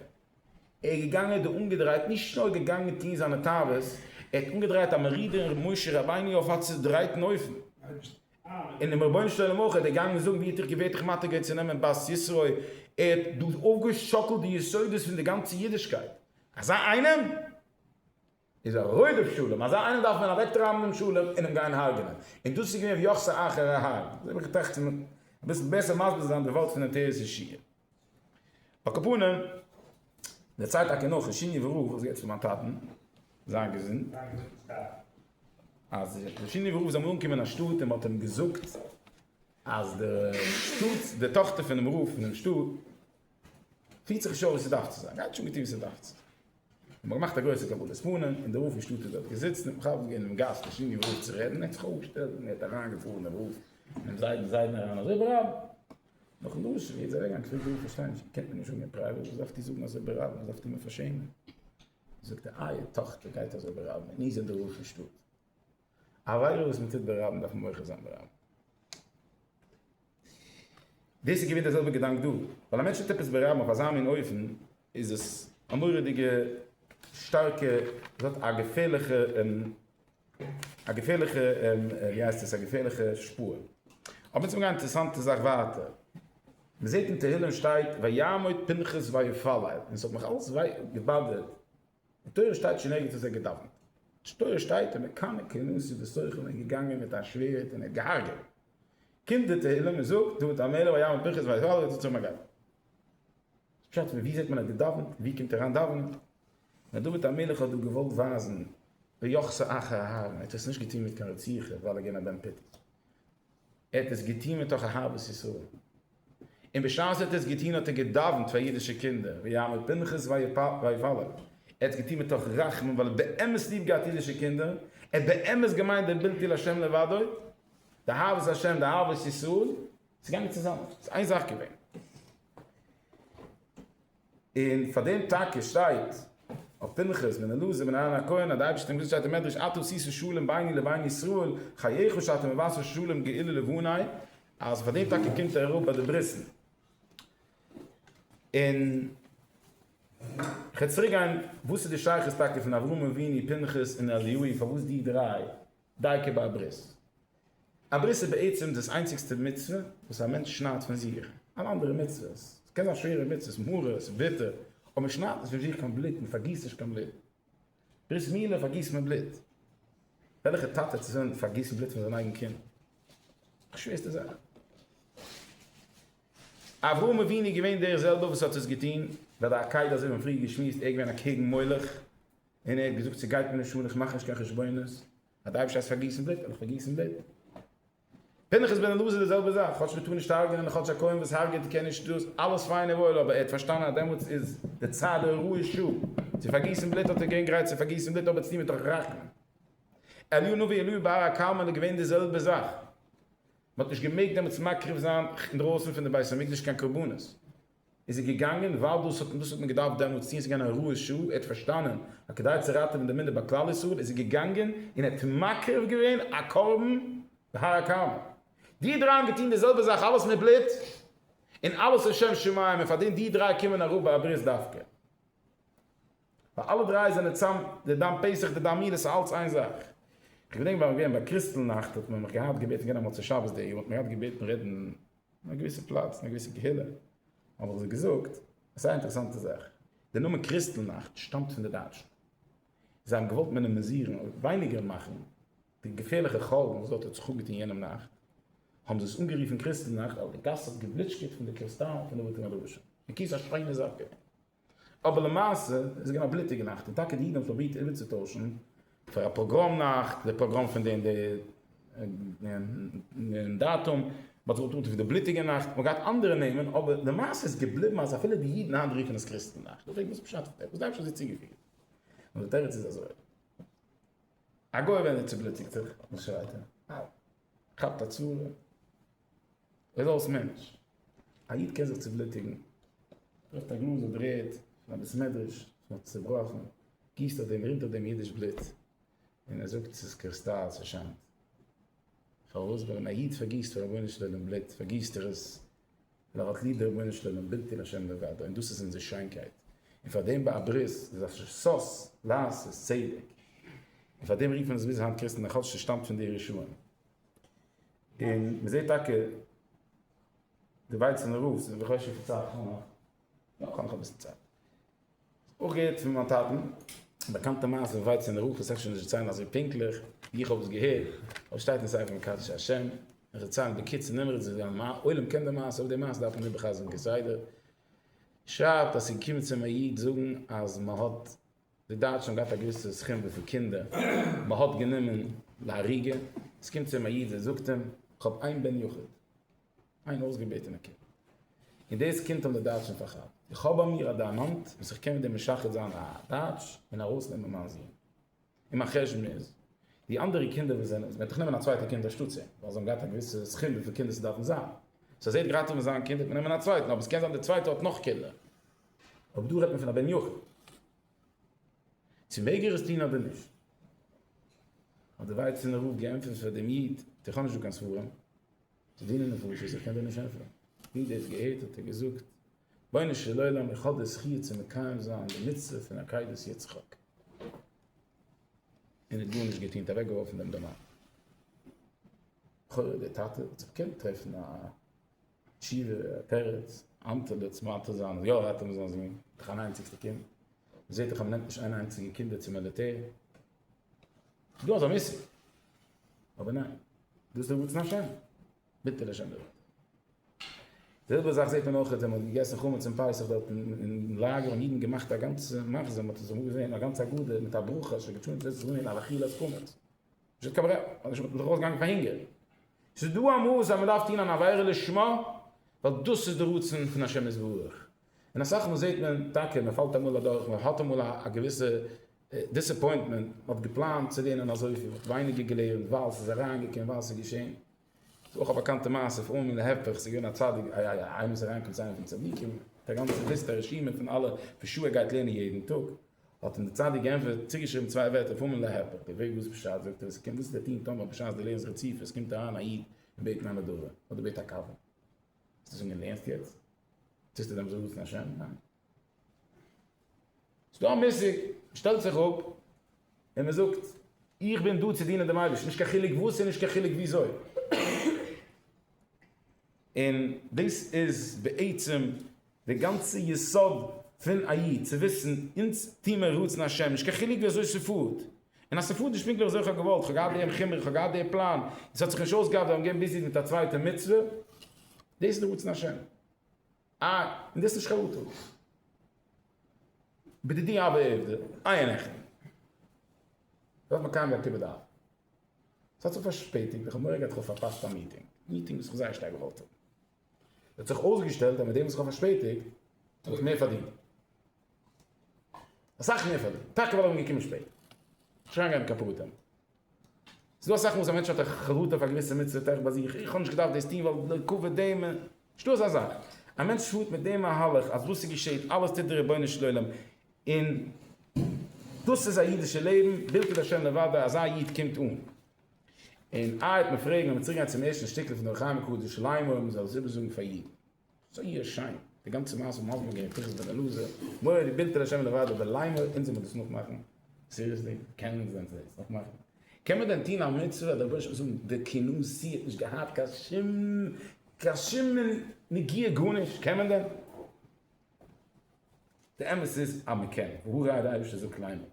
ער איז געגאנגען דא אנגעדרייט נישט נאר געגאנגען טון זיינע תאוות, ער האט אנגעדרייט א מרידה אין ר' משה רבינו אויף א צודרייטן אופן. און דעם רבונו של עולם אויך, ער איז דערגאנגען זאגן ווי האט איך געווערט איך מטער געווען צו נעמען בת ישראל, ער האט דא אויפגעשאקלט די יסודות פון די גאנצע אידישקייט, אזא איינעם איז א רודף שלום, אזא איינעם דארף מען אוועקטרייבן דעם שלום און אים גיין הרג'נען, און דאס איז געווען ויחסר אחר ההר, אזוי האב איך געטראכט צו אביסל בעסער מסביר זיין די ווארט פון עטרת ישעי'. אקאפאנעם, דערציילט טאקע נאר פון שיניעווע רב, וואס גייט פון מיין טאטן, זיין געזונט, אז דער שיניעווע רב איז אמאל אנגעקומען אין א שטאט און מען האט אים געזאגט אז די שטאט, די טאכטער פונעם רב פונעם שטאט, פירט זיך נישט אויף ווי ס'דארף צו זיין, גייט נישט אן געטון ווי ס'דארף צו זיין. האט מען געמאכט א גרויסע קבלת פנים, און דער רב פון שטאט איז דארט געזיצן און בכבוד געווען אינעם גאס דעם שיניעווער רב צו רעדן, ער האט זיך אויפגעשטעלט און ער האט אריינגעפארן אין רב, אינעם זיידן זיידן אריין, אזוי ברב! נאך א דרשה ווי ער איז אוועקגעגאנגען פרעגט ער איך פארשטיי נישט קענט מען נישט זאגן אין פרייוועט וואס דארפט איר זאגן אזוי ברבים וואס דארפט איר מיר פארשעמען זאגט ער אייער טאכטער גייט אזוי ברבים און איר זענט די רב פון שטאט א עבירה וואס מ'טוט ברבים דארף מען מוחה זיין ברבים. דאס איז געווען דער זעלבער געדאנק דא ווייל א מענטש טוט עפעס ברבים אויף אזא מין אופן איז עס א מורא'דיגע שטארקע ס'האט א געפערליכע א געפערליכע ווי הייסט עס א געפערליכע שפור. אבער יעצט האב איך געהאט א אינטערעסאנטע זאך ווייטער. מען זעט אין תהלים שטייט ויעמוד פנחס ויפלל און עס האט מיך אלץ געבאדערט אין תורה שטייט שוין ערגעץ אז ער האט געדאווענט. אין תורה שטייט און מקנא כנשא וסוחר און געגאנגען מיט א שווערד און ער האט געהארגעט. קומט די תהלים און זאגט דוד המלך ויעמוד פנחס ויפלל און ער האט געצויגן א גאווער. פשט ווי זעט מען האט געדאווענט? ווי קומט אריין דאווענען? ווען דוד המלך האט דא געוואלט ווייזן ביוחסא אחר אהרן, ער האט עס נישט געטון מיט קיין רציחה ווייל ער איז געווען א בן פיטות, ער האט עס געטון מתוך אהבת ישראל, און בשעת ער האט עס געטון האט ער געדאווענט פאר אידישע קינדער, ויעמוד פנחס ויפלל, ער האט עס געטון מתוך רחמים ווייל ער האט באמת ליב געהאט אידישע קינדער, ער האט באמת געמיינט דער בלתי לה' לבדו, די אהבת השם, די אהבת ישראל. ס'איז געגאנגען צוזאם. ס'איז איין זאך געווען. און פאר דעם טאקע שטייט אויף פנחס בן אלעזר בן אהרן הכהן אז די אייבערשטער האט געזאגט שטייט אין מדרש אתה תעשה שלום ביני לבין ישראל חייך שאתה מבשר שלום גאולה לבני אז פאר דעם טאקע קומט ער אראפ ביי די ברית'ן. און כ'וועל צוריק גיין וואס איז די שייכות טאקע פון אברהם אבינו, פנחס און אליהו פארוואס די דריי דייקא ביי א ברית? א ברית איז בעצם דאס איינציגסטע מצוה וואס א מענטש שניידט פון זיך, אלע אנדערע מצוות, עס קען זיין שווערע מצוות, מרות, וויטער, אבער מען שניידט נישט פון זיך קיין בלוט, מען פארגיסט נישט קיין בלוט, ברית מילה פארגיסט מען בלוט, וועלכע טאטע האט עס וועלן פארגיסן בלוט פון זיין אייגן קינד? די שווערסטע זאך. אברהם אבינו איז געווען דער זעלבער וואס האט עס געטון, וועל די עקידה אזוי ווי מיר האבן פריער געשמועסט, ער איז געווען אקעגן מולך, און ער האט געזאגט ס'גייט מיר נישט אן, איך מאך נישט קיין חשבונות, אז די אייבערשטער הייסט פארגיסן בלוט, וועל איך פארגיסן בלוט. פנחס בן אלעזר די זעלבע זאך, כאטש מ'טאר נישט הרג'נען און כאטש א כהן וואס הרג'עט קען נישט דאס, אלעס פיין און וואויל, אבער ער האט פארשטאנען אז דעמאלטס איז די צד הראוי שוא צו פארגיסן בלוט, האט ער געווען גרייט צו פארגיסן בלוט אבער צו טון מתוך רחמים. אליהו נביא, אליהו בהר הכרמל איז געווען די זעלבע זאך, מ'האט נישט געמעגט דעמאלטס מקריב זיין אינדרויסן פון די בית המקדש קיין קרבנות, איז ער געגאנגען ווייל דאס האט דאס האט מען געדארפט דעמאלטס טון, עס איז געווען א הוראת שעה, ער האט פארשטאנען אז כדי צו ראטעווען די מינדער ביי כלל ישראל איז ער געגאנגען און ער האט מקריב געווען א קרבן בהר הכרמל. די דריי האבן געטון די זעלבע זאך, אלעס מיט בלוט און אלעס לשם שמים, און פאר דעם די דריי קומען אראפ ביי א ברית דווקא, ווייל אלע דריי זענען צאם, די דם פסח, די דם מילה, עס איז אלעס איין זאך. איך געדענק ביי מיר געווען ביי קריסטל נאכט האט מען מיך געהאט געבעטן גיין א מוצאי שבת די יאר האט מען געהאט געבעטן רעדן אין א געוויסע פלאץ, אין א געוויסע קהילה, האב איך זיי געזאגט א זייער אינטערעסאנטע זאך, דער נאמען קריסטל נאכט שטאמט פון די דייטשן, זיי האבן געוואלט מינעמיזירן, ווייניגער מאכן, די געפערליכע חלום וואס דארט האט זיך אפגעטון יענעם נאכט, האבן זיי עס אנגערופן קריסטל נאכט, ווייל די גאס האט געבליטשקעט פון די קריסטאלן פון די בתי מדרשים, בקיצור א שיינע זאך געווען. אבער למעשה איז עס געווען א בלוטיגע נאכט, און טאקע די אידן האבן פרובירט איבערצוטוישן פאר א פאגראם נאכט די פראגראם פון דעם דאטום, מען האט זיך אנגעטון ווי די בלוטיגע נאכט, מען האט געהאט אנדערע נעמען, אבער למעשה איז געבליבן אז אפילו די אידן היינט רופן עס קריסטן נאכט, איך פרעג וואס פשט פון דעם, וואס דייטש האט זי צוגעפירט? און די תירוץ איז אזוי, א גוי ווען ער צובלוטיגט זיך, וואס שרייט ער? כאפט א צרה. ער איז אלס מענטש. א איד קען זיך צובלוטיגן. ברעכט א גלאז אדער רעדט אין א בית מדרש וואס מען האט צובראכן. גיסט אויף דעם רינט אויף דעם אידיש בלוט. און ער זאגט ס'איז קריסטאל ס'שיינט. פארוואס? ווייל ווען א איד פארגיסט פאר רבונו של עולם בלוט פארגיסט ער עס ווייל ער האט ליב דעם רבונו של עולם בלתי לשם דבר און דאס איז אונזער שיינקייט. און פארדעם ביי א ברית איז א ששות לעשות צדק. און פארדעם רופן עס ביז היינט קריסטן א כאטש ס'שטאמט פון די רשעים. און מען זעט טאקע די ווייצענע רוף זיך דורך אויסשיקן צו א חומה, יא כאב נאך אביסל צייט. אויך געהערט פון מיין טאטן א באקאנטע מעשה פון ווייצענע רוף, עס אפשר נישט דערציילן אזוי פונקטליך ווי איך האב עס געהערט, אבער עס שטייט אין ספר מקדש השם, איך דערציילן בקיצור נמרץ ווי די עולם קען די מעשה, אבער די מעשה דארף מען איבערחזר'ן כסדר. שרייבט אז ס'איז געקומען צו אים א איד זאגן אז מען האט. די דייטשן האבן געהאט א געוויסע סכום וויפיל קינדער מען האט גענומען להריגה, עס קומט צו אים א איד און זאגט אים, איך האב איין בן יחיד, איין אויסגעבעטענע קינד, און דאס קינד האבן די דייטשן פארכאפט, איך האב ביי מיר א דיימאנט וואס איך קען מיט דעם משחד זיין א דייטש און ארויסנעמען מיין זון, און מיין חשבון איז, די אנדערע קינדער וואס זענען, מען וועט דאך נעמען א צווייטע קינד אנשטאט צו אים, ווייל זיי האבן געהאט א געוויסע סכום וויפיל קינדער ס'דארפן זיין, סאו אז ער האט גרייט אויף זיין קינד וועט מען נעמען א צווייטן, אבער עס קען זיין די צווייטע האט נאך קינדער. אבער דא רעדט מען פון א בן יחיד. צו מעג ער עס טון אדער נישט? האט דער ווייצענער רב געענטפערט פאר דעם איד, איך האב נישט דא קיין ספרים צו דינען נפשות, איך קען דיר נישט ענטפערן. ווי דאס געהערט האט ער געזאגט, רבונו של עולם איך האב די זכי' צו מקיים זיין די מצוה פון עקידת יצחק. און ער האט גארנישט געטון, ער האט אוועקגעווארפן דעם דערמאן. לכאורה דער טאטע וועט זיך קענען טרעפן א. תשובה, א תירוץ, אנטער די צמתו זיינע, יא ער האט אים זיין זון, דאך אן איינציגסטע קינד, מ'זעט דאך אז מ'נעמט נישט איין איינציגע קינדער צום מיליטער, ס'איז דא אזא מושג, אבער ניין, דא איז דער רצון השם, ביטערע השם דערווארט. די זעלבע זאך זעט מען אויך ווען מ'האט געגעסן חמץ אום פסח דארט אין לאגער האבן אידן געמאכט א גאנצע מחזה, מ'האט עס אמאל געזען, א גאנץ הגדה מיט א ברכה, אשר געטשוענט וועסט זאגן אין אל אכיל את חמץ. זי האט קיין ברירה, ווייל אנדערש וואלט מען דאך אויסגעגאנגען פאר הונגער. ס'איז דא א מאס אז מען דארף טון אן עבירה לשמה, ווייל דאס איז די רצון פון השם יתברך. און אסאך מאל זעט מען טאקע, מען פאלט אמאל אדורך, מען האט אמאל א געוויסע דיסעפוינטמענט, מען האט געפלאנט צו לערנען אזויפיל, מען האט ווייניגער געלערנט, ווייל ס'איז אריינגעקומען, ווייל ס'איז געשען. ס'איז אויך א באקאנטע מעשה פון אומן להיפך, ס'איז געווען א צדיק א א א איינער וואס איז אריינגעקומען צו איינעם פון צדיקים מיט א גאנצע ליסטע א רשימה פון אלע ווי שו ע גייט לערנען יעדן טאג, האט אים דער צדיק געענטפערט צוגעשריבן צוויי ווערטער אויף אומן להיפך, די וועג וואס פשט, זאגט ער, וואס קען וואס וועט טון טאמער בשעת די לערנסט רציפות קומט אריין א איד און בעט מען א נדבה אדער בעט א קאווע, וועסטו זאגן ער לערנסט יעצט? טוסטו דעמאלטס אנרופן השם? ניין. ס'איז דא א מושג, מ'שטעלט זיך אפ און מ'זאגט, איך בין דא צו דינען דעם אייבערשטן, נישט קיין חילוק וואס און נישט קיין חילוק וויאזוי. און דאס איז בעצם די גאנצע יסוד פון א איד, צו וויסן, אונז טו מיר רצון השם, נישט קיין חילוק וויאזוי ס'פארט. און אז ס'פארט נישט פונקטליך וויאזוי כ'האב געוואלט, כ'האב געהאט דעם חומר, כ'האב געהאט די פלאן, און ס'האט זיך נישט אויסגעהאט ווייל כ'בין ביזי מיט א צווייטע מצוה, דאס איז די רצון השם. אה, און דאס נישט קיין אטעם. בדידי הוה עובדא, איי און עכפ. דארף מען קיימען א כיבוד אב. ס'האט זיך פארשפעטיגט, איך האב מורא געהאט איך האב פארפאסט א מיטינג, א מיטינג וואס איך זייער שטארק געוואלט האבן. האט זיך אויסגעשטעלט אז מיט דעם וואס איך האב פארשפעטיגט, האב איך מער פארדינט. אסאך מער פארדינט. טאקע ווייל איך בין געקומען שפעט. נישט אריינגיין אין קיין פרטים. ס'איז דא אסאך מאל וואס א מענטש האט א חרטה פאר געוויסע מצוות עכפ ביי זיך, איך האב נישט געדארפט דאס טון ווייל די כבוד דעם, נישט דא אזא זאך, א מענטש פארט מיט דעם מהלך אז וואס ס'געשעהט אלעס טוט דער רבונו של עולם און דאס איז א אידישע לעבן, בלתי לשם נבדה, אזא איד קומט אן. און איי וועט מען פרעגן, לאמיר צוריק גיין צום ערשטן שטיקל פון אור החיים הקדוש, ליימער, מ'זאל עס איבערזאגן פאר אידן. זייער שיין, די גאנצע מעשה האבן אנגעהויבן געהערט פינחס בן אלעזר, מורי די בינטעלע שעמען די ועד אבער ליימער אונזער מוז דאס נאכמאכן, סיריעסלי קען אונז ווען זיי עס נאכמאכן? קען מען דען טוהן א מצוה אדער בושה און זאגן די כינוסי האט נישט געהאט קיין שום קיין שום נגיעה גארנישט קען מען דען? די אמת איז אז מען קען, והא ראי' די אייבערשטער זאגט ליימער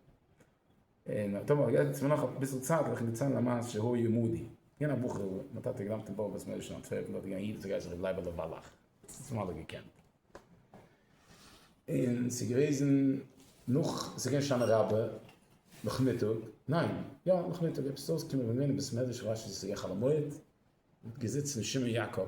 און האט אמאל גערעדט צו מיר נאך אביסל צייט וועל איך אונז דערציילן א מעשה שהיה עמדי, געווען א בחור מיין טאטע האט געלאמט אין באר בית משה אין אנטווערפן דארט איז געווען א איד וואס גייסט ר' לייבעלע וואלאך וואס מיר האבן אלע געקענט און ס'איז געוועזן נאך ס'איז געווען שנה רבה נאכמיטאג ניין יא נאכמיטאג עפעס איז אויסגעקומען ווען מיר זענען אין בית מדרש כ'ווייס נישט צו ס'איז געווען חול המועד מ'האט געזיצן שמעון יעקב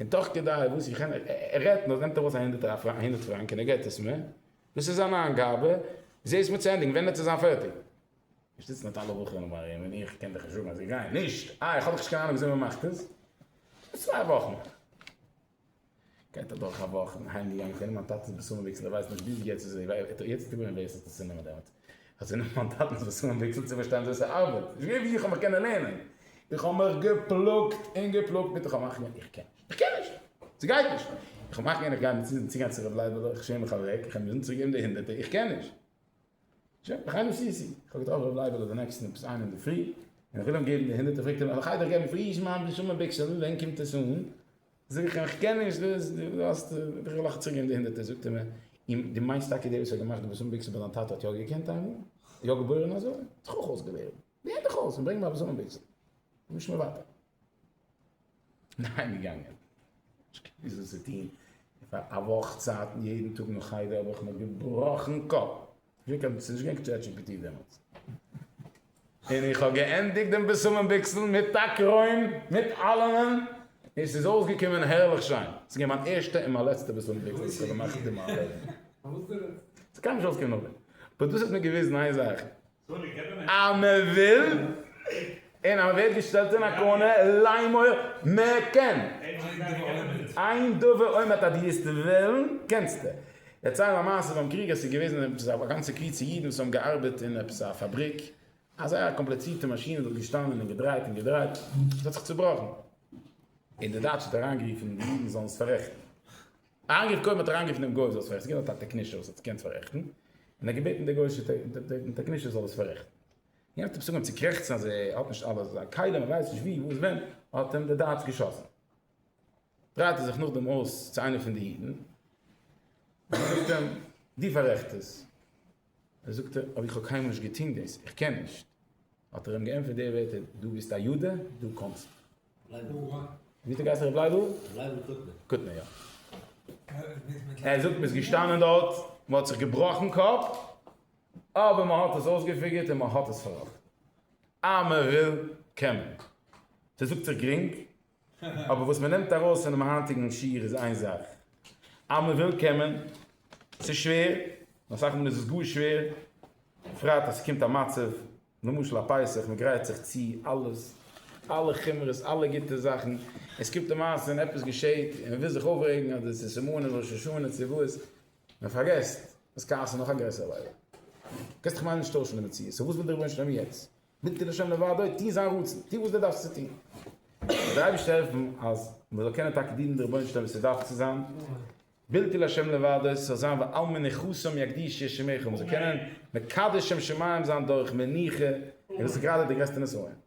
און תוך כדי וואס איך ער רעדט נאר נעמט ער ארויס א הונדערטער א פראנק א הונדערט פראנק און ער געט עס מיר, דאס איז זיין איינגאבע, זע עס מיר צו ענדיגן, ווען וועט עס זיין פערטיג? איך זיץ מיט אלע בחורים ארום ארום און איך קען דיך נישט זאגן אז זיי גייען נישט, אה איך האב דאך נישט קיין אהנונג וויאזוי מען מאכט עס, ביז צוויי וואכן. גייט אדורך א וואך, איך בין אהיים געגאנגען, איך קען נישט מיין טאטע'ס בשמים ביקסעלע, איך ווייס נישט ביז יעצט איז ער, יעצט איז געבליבען ווער עס האט עס צו נעמען דעמאלטס. אז זיי נעמען מיין טאטנס וואסער און וויקסל צו פארשטיין ווי עס ארבעט, נישט געווען ווי איך האב מיך קענען לערנען, איך האב מיך געפלאגט און געפלאגט מיט איך האב מאכט געווען איך קען נישט, איך קען נישט, ס'גייט נישט, איך האב מאכט געווען איך גיי מיט צוזאגן צוגיין צו ר' לייבעלע, איך שעם מיך אוועק, איך וועל מוזן צוריק געבן די הונדערטער, איך קען נישט. שוין, איך גיי מיט סיסי, איך האב געטראפן ר' לייבעלע די נעקסטן עפעס איין אינדערפרי, און איך וויל אים געבן די הונדערטער פרעגט ער מיר אז איך גיי דיר געבן פריש מיין בלי שום ביגסעלן, ווען קומט עס אן? זאג איך אים, כ'קען נישט דאס, דו האסט, איך וויל אויך צוריקגיין די הונדערטער, זאגט ער מיר, און דו מיינסט טאקע דער וואס האט געמאכט די בושמים ביקסן ביי דיין טאטע האט יא געקענט איינמאל? יא געבוירן אזוי? האט זיך אויך אויסגעלערנט? לערן דיך אויס און ברענג מיין בושמים ביקסן, נישט מער ווייטער. און אהיימגעגאנגען. נישט געוואוסט וואס צו טון, און פאר א וואך צייט יעדן טאג נאך חדר האב איך מיר געבראכן קאפ. געווען קיין, ס'איז נישט געווען קיין טשעט דזשי פי טי דעמאלטס. און איך האב געענדיגט דעם בשמים ביקסל מיט טאג רוים, מיט אלעמען, און ס'איז אויסגעקומען הערליך שיין. ס'איז געווען מיין ערשטע און מיין לעצטע בשמים ביקסל וואס כ'האב געמאכט אין מיין לעבן. ס'קען נישט אויסקומען נאכדעם. באט דאס האט מיר געוויזן איין זאך, אז מ'וויל, און אז מען ווערט געשטעלט אין א קארנער ליימער מען קען. עיין דבר עומד אז דו וועסט וועלן קענסטע דערציילן א מעשה ביים קריג עס איז געוועזן עפעס א גאנצע קבוצה אידן וואס האבן געארבעט אין עפעס א פאבריק א זייער קאמפלעצירטע מאשין וואס האט געשטאנען און געדרייט און געדרייט עס האט זיך צובראכן און די דייטש האט אריינגערופן די אידן זאלן עס פאררעכטן אריינגערופן קודם האט אריינגערופן דעם גוי זאל עס פאררעכטן ס'איז געווען דארט א טעקנישער וואס האט עס געקענט פאררעכטן און ער האט געבעטן די גוי טעקנישער זאל עס פאררעכטן. און יענער האט עפעס אנגעהויבן צו קרעכצן אז ער האט נישט אלעס, זיין כלים, ער ווייסט נישט ווי, וואס, ווען, האט אים דער דייטש געשאסן. דרייט ער זיך נאכדעם אויס צו איינער פון די אידן, און ער זאגט אים, דו פאררעכט עס. ער זאגט אים, אבער איך האב קיינמאל נישט געטון דאס, איך קען נישט. האט ער אים געענטפערט די ווערטער, דו ביסט א יודע, דו קענסט. ווי האט ער געהייסן, רבי לייבל? לייבל קוטנער. קוטנער, יא. ער זאגט, מען איז געשטאנען דארט, מען האט זיך געבראכן קאפ, אבער מען האט עס אויסגעפיגערט און מען האט עס פארראכטן. אז מען וויל קען מען. ס'זאגט זיך גרינג, אבער וואס מען נעמט ארויס פונעם היינטיגן שיעור איז איין זאך, אז מען וויל קען מען. ס'איז שווער, און אסאך מאל איז עס גאר שווער, בפרט אז ס'קומט א מצב, למשל א פסח, מען גרייט זיך צו אלעס, אלע חומרות, אלע גוטע זאכן, און ס'קומט די מעשה און עפעס געשעט, און מען וויל זיך אויפרעגן אז דאס איז סימנים ראש השנה צו וואס, מען פארגעסט אז כעס איז נאך א גרעסער ליידער. קענסט דאך ממש נישט טוישן די מציאות, סאו וואס וויל דער רבונו של עולם יעצט? בלתי לשם דבר דאוד, טוה זיין רצון, טוה וואס דו דארפסט צו טוהן. זאל דער אייבערשטער העלפן אז מען זאל קענען טאקע דינען דער רבונו של עולם ווי ס'דארף צו זיין, בלתי לשם דבר דאוד, ס'זאל זיין ועל מנוחתם יקדיש ישי מעכיל, מען זאל קענען מקדש שם שמים זיין דורך מנוחה, און דאס איז גראדע דער גרעסטער נסיון.